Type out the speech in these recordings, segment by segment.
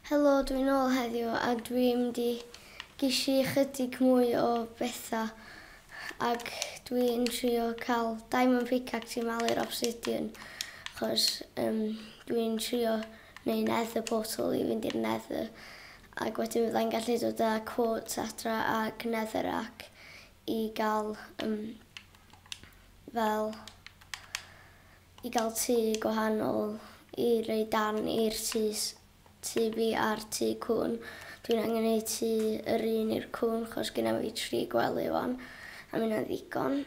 Helo dwi nôl heddiw ag dwi mynd i gisi chydig mwy o betha ag dwi yn trio cal diamond pickaxe i malu'r obsidian chos um, dwi yn trio neu nether portal i fynd i'r nether ag wedyn fydda i'n gallu dod â quartz adra ag nether ac i gael um, fel i gael tŷ gwahanol i roi darn i'r tŷ tŷ fi a'r tŷ cŵn. Dwi'n angen neud tŷ yr un i'r cŵn chos gynna fi tri gwely wan a minnau'n ddigon.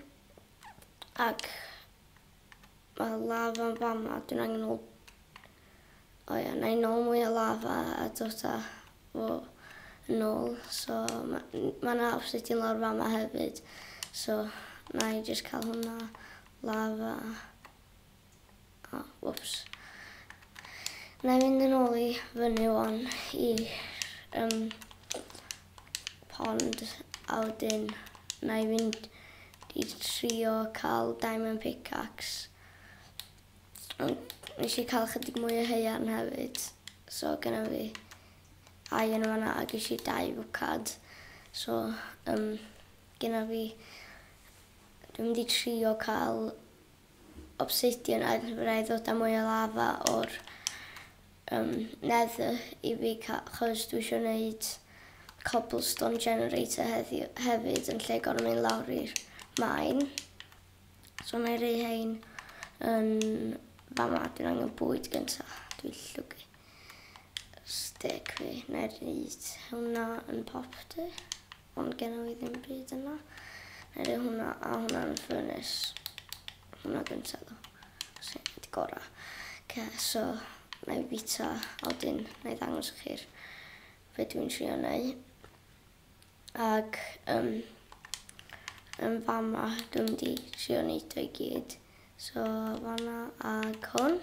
Ac mae lafa yn fama, dwi'n angen ôl... O ia, na i nôl mwy o lafa a dod â fo yn ôl. So mae yna obsidian lawr fama hefyd so na i jyst cael hwnna. Lafa. O, whoops. Na i fynd yn ôl i fyny o'n i'r um, pond a wedyn na i fynd i trio cael diamond pickaxe. Ond nes i cael chydig mwy o heian hefyd. So gyda fi ai yn fanna a ges i dau fwcad. So um, gyda fi Dwi'n mynd i trio cael obsidian a fydda i ddod â mwy o lafa o'r yym nether i fi ca- achos dwi isio neud cobblestone generator heddiw hefyd yn lle gor'o' mynd lawr i'r mine. So nâi roi rhein yn fama dwi'n angen bwyd gynta dwi'n llwgu stick fi nâi reid hwnna yn popty. Ond genna i ddim byd yna. Neu rhoi hwnna a hwnna yn y ffyrnus. Hwnna gyntaf ddo. Sy'n di gora. Okay, so, na i bita a wedyn na i ddangos i chi'r fe dwi'n trio neu. Ac um, yn fama dwi'n di trio neud o'i gyd. So, fanna ag hwn.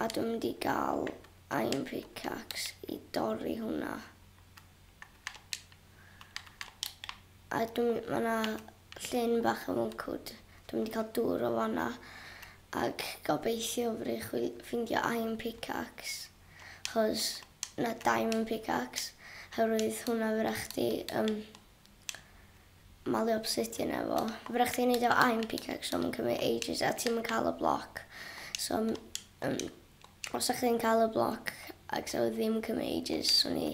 A dwi'n di gael iron pickaxe i dorri hwnna. A dwi'n... ma' 'na llyn bach yn Woncwd. Dwi'n mynd i cael dŵr o fan'na ac gobeithio fedrwch chi ffeindio iron pickaxe achos... na, diamond pickaxe oherwydd hwnna fedrwch chdi yym malio obsidian efo. Fedrwch chdi neud o efo iron pickaxe ond ma'n cymryd ages a ti'm yn cael y bloc so yym Os dach chi'n cael y bloc ac sa fo ddim yn cymryd ages so ni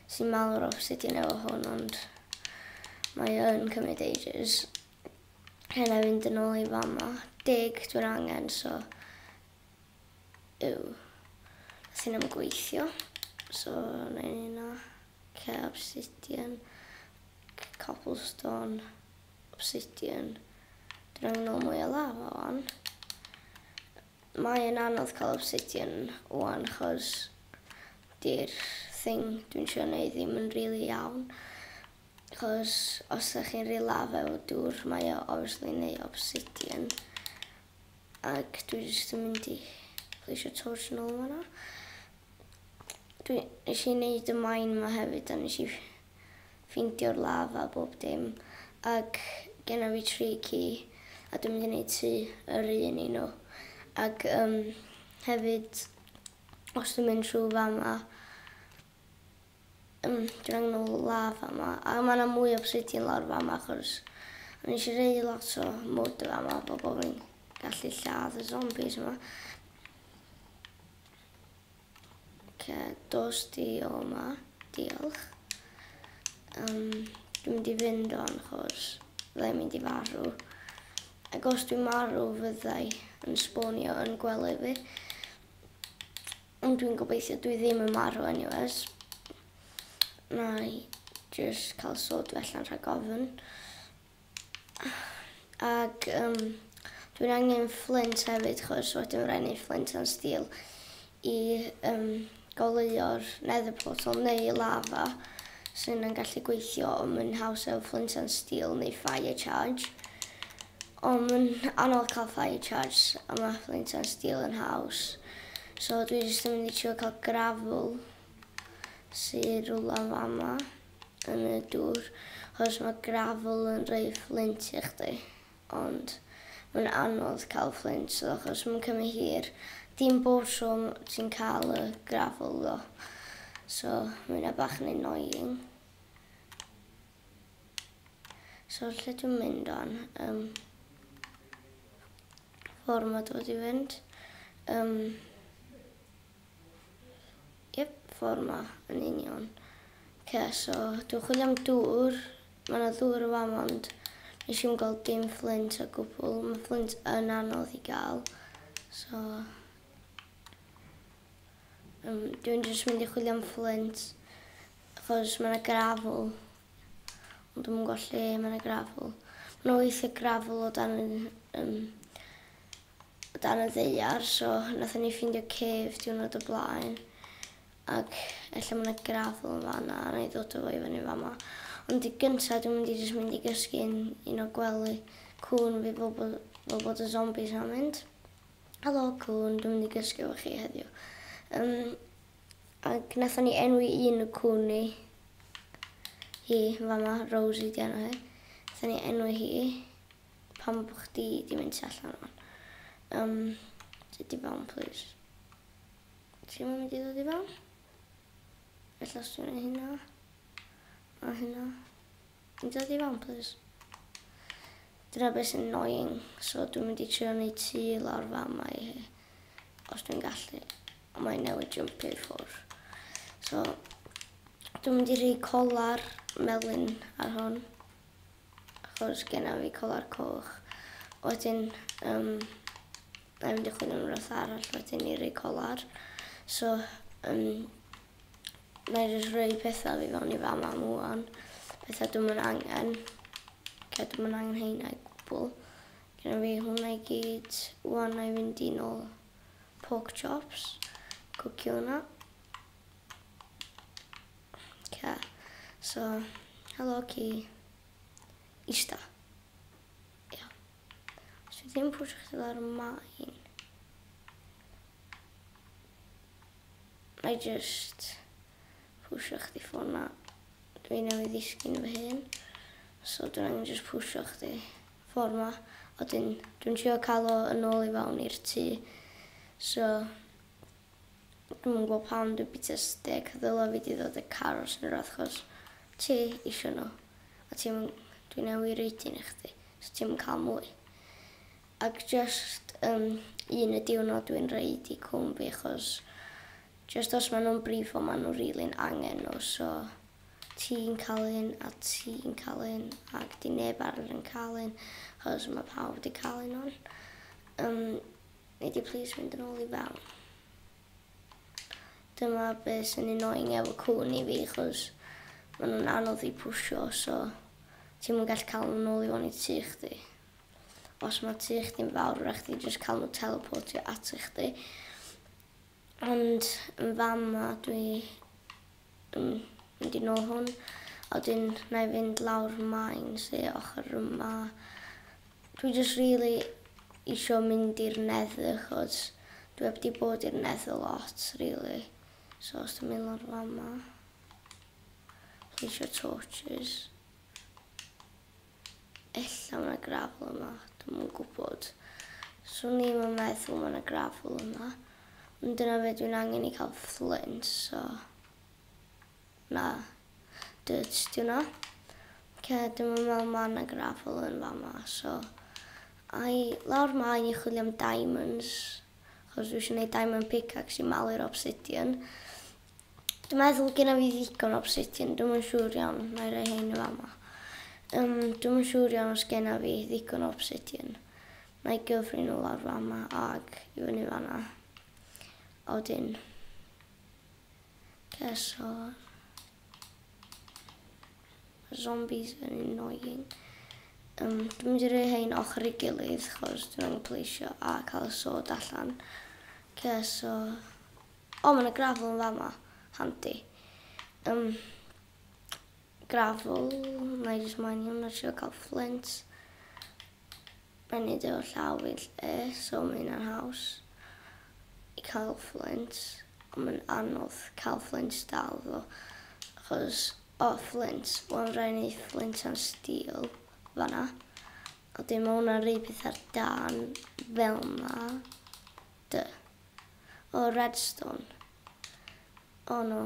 sy'n mawr o sut i newid hwn ond mae o yn cymryd ages. Hyn a fynd yn ôl i fama. Deg dwi'n angen so yw. Nath hyn am gweithio. So na i ni na. Okay, obsidian. Cobblestone. Obsidian. Dwi'n angen ôl mwy o lava o'n. Mae yn anodd cael obsidian wan chos di'r thing dwi'n trio neud ddim yn rili iawn chos os da chi'n rili lafa efo dŵr mae o obviously neu obsidian ac dwi jyst yn mynd i pleisio torch yn ôl fanna. Dwi, nes i neud y mine ma hefyd a nes i ffeindio'r law a bob dim, ac genna fi tri ci, a dwi'n mynd i neud tŷ yr un i nhw. Ac um, hefyd, os dwi'n mynd trwy fama, um, dwi'n angen o law fama, a mae yna mwy o prydion lawr fama, achos o'n eisiau rei lot o mwd fama, bobl fi'n gallu lladd y zombies yma. Oce, dos di o ma. Diolch. Um, dwi'n mynd i fynd o'n chos fyddai'n mynd i farw. Ac os dwi'n marw fyddai yn sbonio yn gwely fi. Ond dwi'n gobeithio dwi ddim yn marw anyways. Na i just cael sod felly'n rhag ofyn. Ac yym dwi'n angen fflint hefyd chos wedyn ma' raid ni fflint and steel i yym goleuo'r nether portal neu y lava sy'n yn gallu gweithio ond ma'n haws efo fflint and steel neu fire charge ond ma'n anodd cael fire charge a ma' fflint and steel yn haws so dwi jyst yn mynd i trio cael gravel sy rwla fama. yn y dŵr achos mae gravel yn rhoi fflint i chdi ond mae'n anodd cael fflint so achos mae'n cymryd hir dim bob tro ti'n cael y gravel ddo so mae hynna bach yn annoying so lle dwi'n mynd o'n um, ffordd mae dod i fynd um, Yep, ffordd ma, yn union. Ce, so, dwi'n chwilio am dŵr. Mae yna dŵr yn fam, ond nes i'm gael dim fflint o gwbl. Mae fflint yn anodd i gael. So, um, dwi'n jyst mynd i chwilio am fflint, achos mae yna grafl. Ond dwi'n gwybod lle mae yna grafl. Mae yna weithiau grafl o dan yn, um, o dan y ddaear so nathon ni ffindio cave diwrnod o blaen ac ella ma' 'na gravel yn fan 'na a na'i ddod â fo i fyny yn fama ond i gynta dwi'n mynd i jyst mynd i gysgu'n un o gwely cŵn fi fel bo' fel bod y zombies am mynd. Helo cŵn dwi'n mynd i gysgu efo chi heddiw. Yym ac nathon ni enwi un o cŵn ni hi yn fama Rosie 'di enw hi. Nathon ni enwi hi Pam bo chdi di mynd tu allan wan? Um, ti di fewn, please. Ti'n mynd i ddod i fewn? Ella os ti'n mynd hynna. A hynna. Ti'n dod i fewn, please. Dyna beth sy'n annoying. So dwi'n mynd i trio wneud tu lawr fam i hi. Os dwi'n gallu. Ond mae'n newid jump i ffwrdd. So dwi'n mynd i rhoi colar melyn ar hon. Achos genna fi colar coch. Wedyn um, na i mynd i chwilio am rhywbeth arall wedyn i roi colar. So, um, na i jyst rhoi pethau fi fewn i fama am wan. Pethau dwi'n mynd angen. Lle dwi'n mynd angen heina i gwbl. Genna fi hwnna i gyd. Wan na i fynd i'n ôl pork chops. Cwcio hwnna. Oce, so helo ci ista. Ia. Os fi ddim pwysio chdi lawr y main. Na i just pwysio chdi ffôn na. Dwi newydd ddisgyn fy hun. So dwi'n angen just pwysio chdi ffordd ma. A dwi'n dwi trio cael o yn ôl i fawn i'r tŷ. So Dwi'm yn gwbo pam dwi'n bita stêc ddyla fi di ddod a carws yn yr ardd chos ti isio nhw a ti'm yn dwi newy roid un i chdi so ti'm yn ca'l mwy ag jyst yym un y diwrnod dwi'n roid i cŵn fi chos jyst os ma' nhw'n brifo ma' nhw rili'n angen nhw so ti'n ca'l un a ti'n ca'l un ag di neb arall yn ca'l un chos ma' pawb di ca'l un wan yym Nei di plîs fynd yn ôl i fewn? Dyma be sy'n annoying efo cŵn i fi achos ma' nhw'n anodd i pwsio so ti'm yn gallu cael nhw'n ôl i fewn i tŷ chdi. Os ma' tŷ chdi'n fawr rhaid chdi jyst cael nhw teleportio ata chdi. Ond yn fama dwi yn mynd i nôl hwn a wedyn na i fynd lawr main sy ochr yma. Dwi jyst rili isio mynd i'r nether achos dwi heb di bod i'r nether lot rili so os dwi'n mynd lawr fama. Dwi isio torches. Ella ma na gravel yma, dwi'm yn gwbod. Swn i'm yn meddwl ma na gravel yma. Ond dyna be dwi'n angen i cael fflint, so... Na. Dirt di hwnna. Oce, dwi'm yn meddwl ma na gravel yn fama, so... Ai lawr ma i chwilio am diamonds. Achos dwi isio neud diamond pickaxe i malu'r obsidian. Dwi'n meddwl gynna fi ddigon o obsidian, dwi'm yn siŵr iawn, nai roi rhein yn fama. Yym dwi'm yn siŵr iawn os genna fi ddigon o obsidian. Nai gyfri nhw lawr fama ag i fyny fanna. A wedyn... Oce, so... Zombies yn annoying. Um, dwi'n mynd i roi hein ochr i gilydd, chos dwi'n angen pleisio a cael y sod allan. Oce, so... O ma na gravel yn fama. Handi. Yym gravel na i jyst moyn hwn a trio ca'l flint. Mae'n neud efo llaw fi lly so ma' hynna'n haws i ca'l flint ond ma'n anodd ca'l flint dal ddo achos o flint wel rai' ni flint and steel fan'na. A wedyn ma' hwnna'n roi petha'r dân fel 'na. Dy. O Redstone. O no.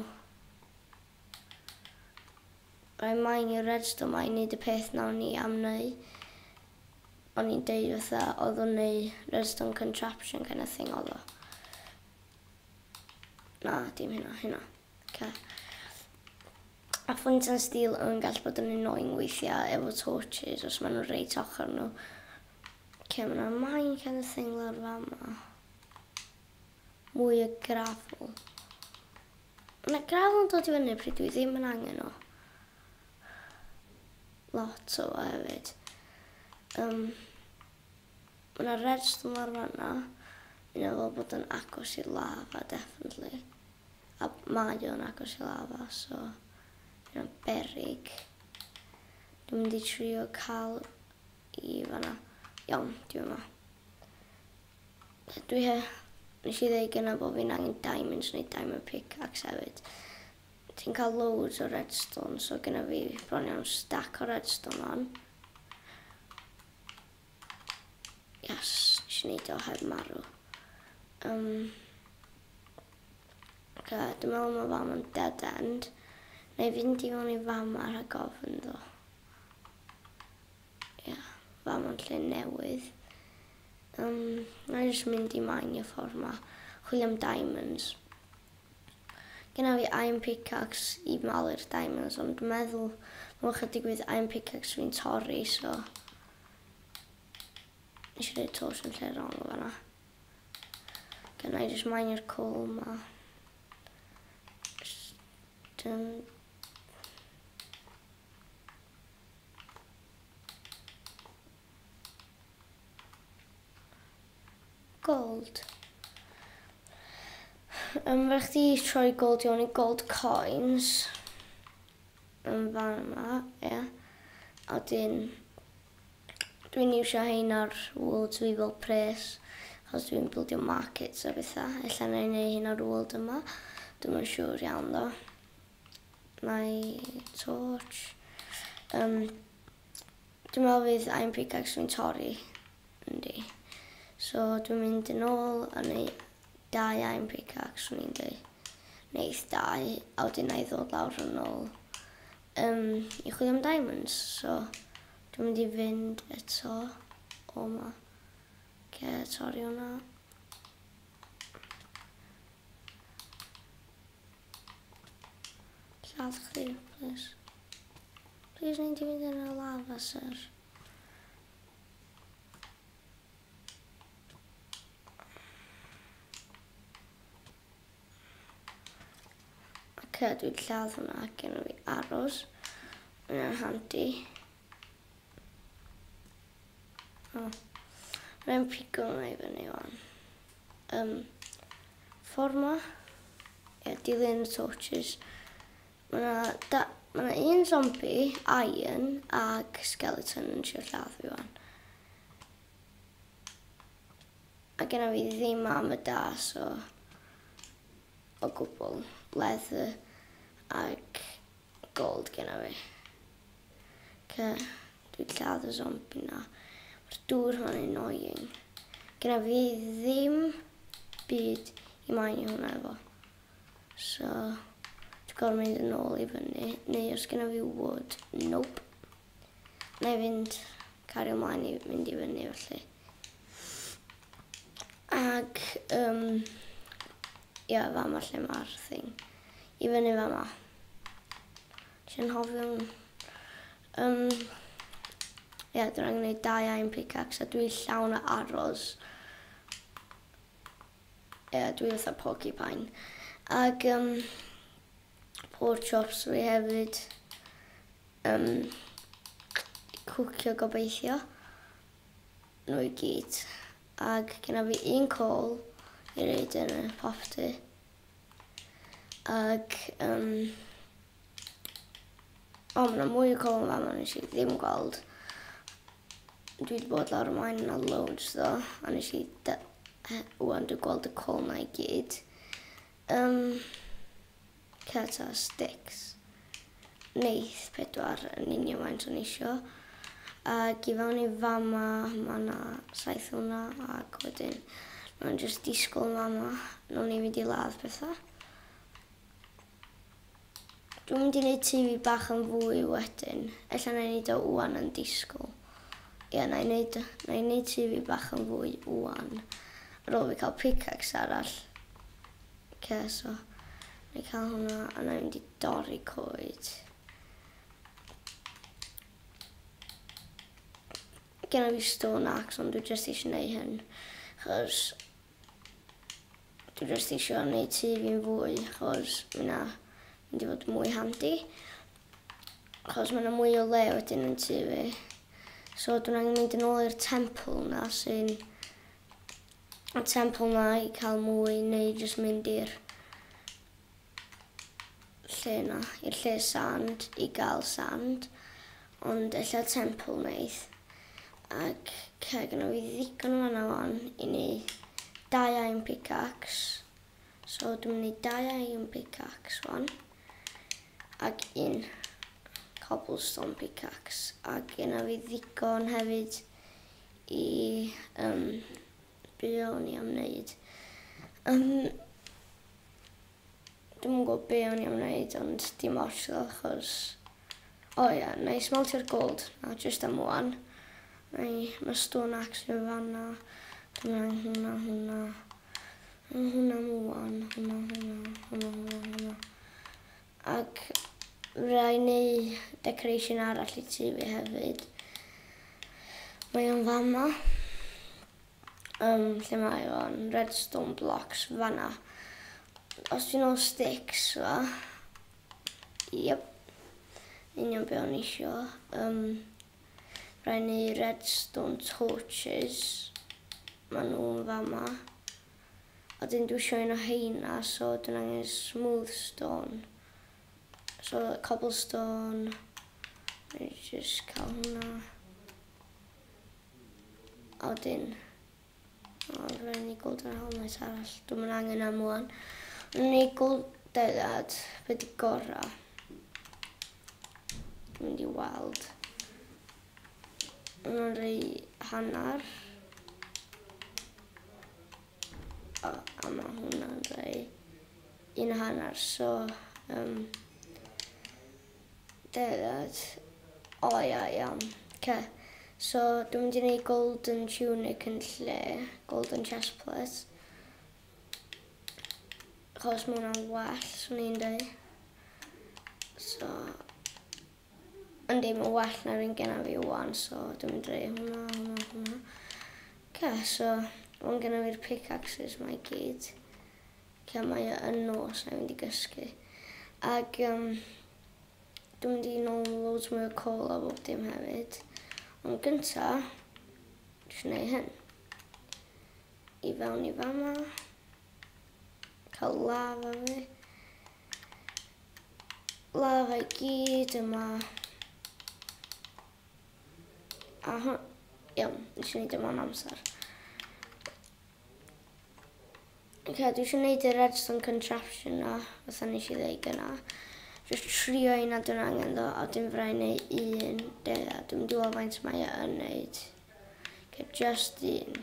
Rhaid maen i'r Redstone maen wneud y peth nawn ni am neu. O'n i'n deud fatha oedd o'n neu Redstone contraption kind of thing oedd o. Na, dim hynna, hynna. Okay. A ffwynt yn stil yn gallu bod yn annoying weithiau efo torches os maen nhw'n reit ochr nhw. Camera mine kind of thing lawr fama. Mwy o gravel. Mae yna gravel yn dod i fyny pryd dwi ddim yn angen o. Lot o fo hefyd. Um, mae yna redstone lawr fanna. Yna fel bod yn agos i lava, definitely. A mae o'n agos i lava, so... Yna berig. Dwi'n mynd i trio cael i fan'na. Iawn, dwi yma. Dwi he- nes i ddeu gynna bo' fi'n angen diamonds neu diamond pickaxe hefyd. Ti'n ca'l loads o redstone so gynna fi bron iawn stack o redstone wan. Yes, nes i neud o heb marw. Um, Oce, dwi'n meddwl ma' fam yn dead end. Neu fynd i fewn i fama rhag ofn ddo. Ia, fam yn lle newydd. Yym, na i jyst mynd i mineio ffordd 'ma. Chwilio am diamonds. Genna fi iron pickaxe i malu'r diamonds ond dwi'n meddwl ma' chydig fydd iron pickaxe fi'n torri so nes i roi'r torch yn lle wrong yn fan'na. Genna i jyst mineio'r coal 'ma. Jyst yn Gold. Um, fe chdi troi gold iawn i gold coins. Yn fan yma, ie. Yeah. A dyn, dwi'n iwsio hein ar world i fel pres. Os dwi'n bildio markets a bethau. Ella na i neu hyn ar world yma. Dwi'n siŵr iawn ddo. my torch. Um, dwi'n meddwl fydd I'm pickaxe fi'n torri. Yndi. So dwi'n mynd yn ôl a neu dau I'm pickaxe o'n i'n dweud. Neith dau a wedyn na i ddod lawr yn ôl um, i chwilio am diamonds. So dwi'n mynd i fynd eto o ma. Ce, torri o'na. Lladd chdi, plis. Plis nid i fynd yn y lava, sir. Oce, dwi'n lladd hwnna gen i fi aros. Mae'n handi. Oh. Rwy'n pigo hwnna i fyny wan. Um, ffordd ma. Ie, dilyn y torches. Mae yna ma un zombie, iron, ag skeleton yn siarad lladd fi wan. A gen fi ddim am y da, so... O gwbl, leather, ag Gold genna fi. Oce, dwi'n lladd y zombi na. Mae'r dŵr hwn yn annoying. Genna fi ddim byd i maen i hwnna efo. So, dwi'n gorfod mynd yn ôl i fyny. Neu os genna fi wood, nope. Wna i fynd cario mlaen i fynd i fyny felly. Ac, um, ia, yeah, fama lle mae'r thing. I fyny fama. Dwi'n hofio... Um, Ie, yeah, dwi'n angen gwneud dau aim pickaxe a dwi llawn o arrows. Ie, yeah, dwi fatha porcupine. Ac, um, Pork chops fi hefyd yn cwcio gobeithio nhw i gyd ac gyda fi un call i reid yn y property ac um, o mae yna mwy o call yn fanno nes i ddim gweld dwi wedi bod lawr ymlaen yna loads ddo a nes i wwan dwi'n gweld y call na i gyd Ym Celts ar Stics, wneith pedwar yn union faint o'n i isio, ac i fewn i fama, ma' 'na saith o hwnna, ac wedyn ma' nhw'n jyst disgwyl yn fama, wnawn ni fynd i ladd petha. Dwi'n mynd i neud tŷ fi bach yn fwy wedyn. Ella na i neud o ŵan yn disgwyl. Ie, na i neud, na i neud tŷ fi bach yn fwy ŵan. Ar ôl fi cael pickaxe arall. Ce, so. Na i cael hwnna a na i mynd i dorri coed. Gen i fi stone axe ond dwi jyst eisiau neud hyn. Chos Dwi jyst isio neud tŷ fi'n fwy achos ma' wnna mynd i fod yn mwy handi. Achos ma' 'na mwy o le wedyn yn tŷ fi. So dwi'n angen mynd yn ôl i'r temple 'na sy'n y temple 'na i cael mwy neu jyst mynd i'r lle 'na i'r lle sand i ga'l sand ond ella temple neith ac ca gynno fi ddigon o fana wan i neud dau iron pickaxe so dwi'n mynd i neud dau iron pickaxe wan ac un cobblestone pickaxe ac gynno fi ddigon hefyd i um, be o'n i am neud. Um, Dwi'n yn gwybod be o'n i am neud, ond dim ots ddo, achos... O oh, ie, yeah, neu smeltio'r gold, na, just am wan. Neu, mae stone axe yn fanna. Dwi'n angen hwnna, hwnna. Hwnna am wan, hwnna, hwnna, hwnna, hwnna, hwnna. Ac rwy'n neu decoration arall i tŷ fi hefyd. Mae o'n fama. Yym, lle mae o'n redstone blocks fanna. Os ti'n ôl sticks fa. Yep. Union be o'n isio. Um, rwy'n neu redstone torches. Mae nhw'n fama. a dyn dwi isio un o heina so dwi'n angen smooth stone so cobblestone I just cael hwnna a wedyn o rhaid ni golden helmet arall dwi'n mynd angen am wan rhaid ni golden ad beth di gorau dwi'n mynd i weld Yn o'n rei hanner. O, a mae hwnna'n rei un hanner, so... Um, Degad. O, oh, ia, iawn. Okay. So, dwi'n mynd i wneud golden tunic yn lle golden chest plate. Chos mae hwnna'n well, swn i'n dweud. So, Ond dim yn well na'r un genna fi wan, so dwi'n mynd rei hwnna, hwnna, hwnna. Ce, so, o'n genna fi'r pickaxes mae gyd. Ce, mae e yn nos, na i fynd i gysgu. Ac, um, dwi'n mynd i nôl yn loads mwy o col a bob dim hefyd. Ond gynta, dwi'n gwneud hyn. I fewn i fama. Cael lava fi. Lava i gyd yma. A hwn... Iawn, nes i wneud yma'n amser. Ok, dwi eisiau gwneud y redstone contraption na, fatha nes i ddweud gyna. Just trio un a dwi'n angen ddo, a dim frai neu un. Dea, dwi'n mynd i weld faint mae e yn wneud. Ok, just un.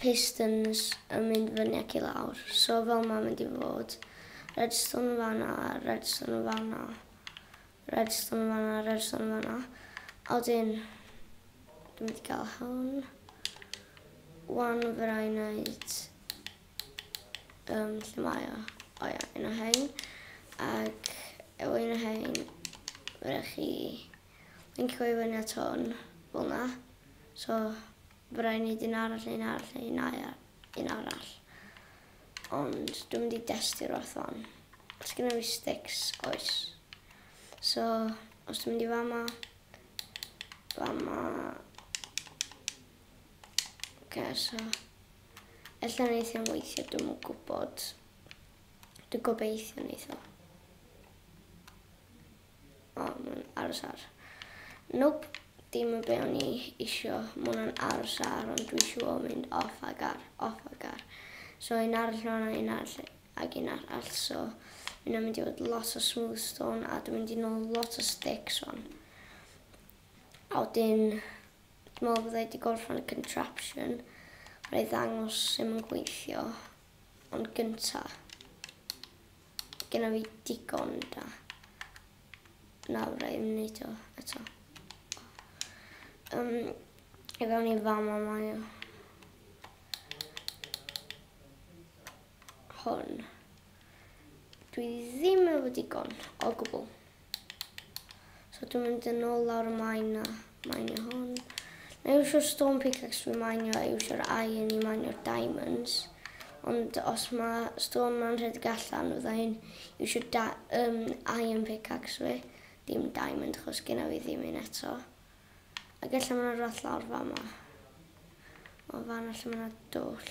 pistons yn mynd fyny ac i lawr. So fel mae'n mynd i fod, redstone fanna, redstone fanna, redstone fanna, redstone fanna. A wedyn, dwi'n mynd i gael hwn. Wan fyrra i wneud, um, lle mae o? O ia, un o hein. Ac efo un o hein, fyrra chi lincio i fyny at hwn, fel na. So, Fy rai wneud un arall neu'n arall neu'n ail un arall. Ond dwi'n mynd i destio'r oth hon. Os gyda fi sticks, oes. So, os dwi'n mynd i fama, fama. Ok, so. Ella wneud i'n weithio, dwi'n mwyn gwybod. Dwi'n gobeithio wneud i'n O, mae'n aros ar. Nope, dim yn be o'n i isio. Mae hwnna'n aros ar, ond dwi isio o mynd off ag ar, off ag ar. So un arall fanna, un arall ag un arall. So yna mynd i fod lot o smooth stone a dwi'n mynd i nôl lot o sticks o'n. A wedyn, dwi'n meddwl bod wedi gorffen y contraption. Rhaid ddangos sy'n yn gweithio, ond gyntaf. Gynna fi digon da. Nawr rhaid i mi wneud o eto. Um, I fewn i fama mae o. Hwn. Dwi ddim efo digon o gwbl. So dwi'n mynd yn ôl lawr y maen a mainio hwn. Na iwsio'r stone pickaxe dwi'n mainio a iwsio'r iron i mainio'r diamonds. Ond os mae stone ma'n rhedeg allan, fydda i'n iwsio um, iron pickaxe fi. Dim diamond, chos gyna fi ddim un eto. A gallai mae'n rhath lawr fa yma. O fan allan mae'n dwll.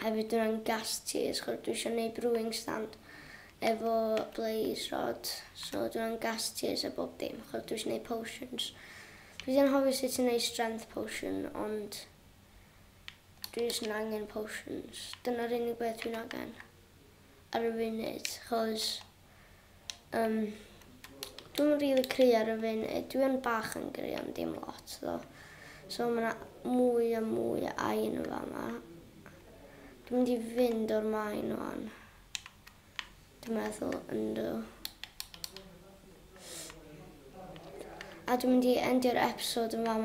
Hefyd yn yn gas ti os gwr dwi isio neud brewing stand efo blaze rod so dwi'n yn gas tears a bob dim achos dwi isio neud potions. Dwi ddim yn hoffi sut ti'n neud strength potion ond dwi jyst yn angen potions. Dyna'r unig beth dwi'n angen ar y funud achos Yym dwi'm yn rili cry ar y funud dwi yn bach yn gry ond dim lot tho so ma' 'na mwy a mwy o aen yn fama. Dwi'n mynd i fynd o'r maen ŵan. Dwi'n meddwl yndw. A dwi'n mynd i endio'r episode yn fama.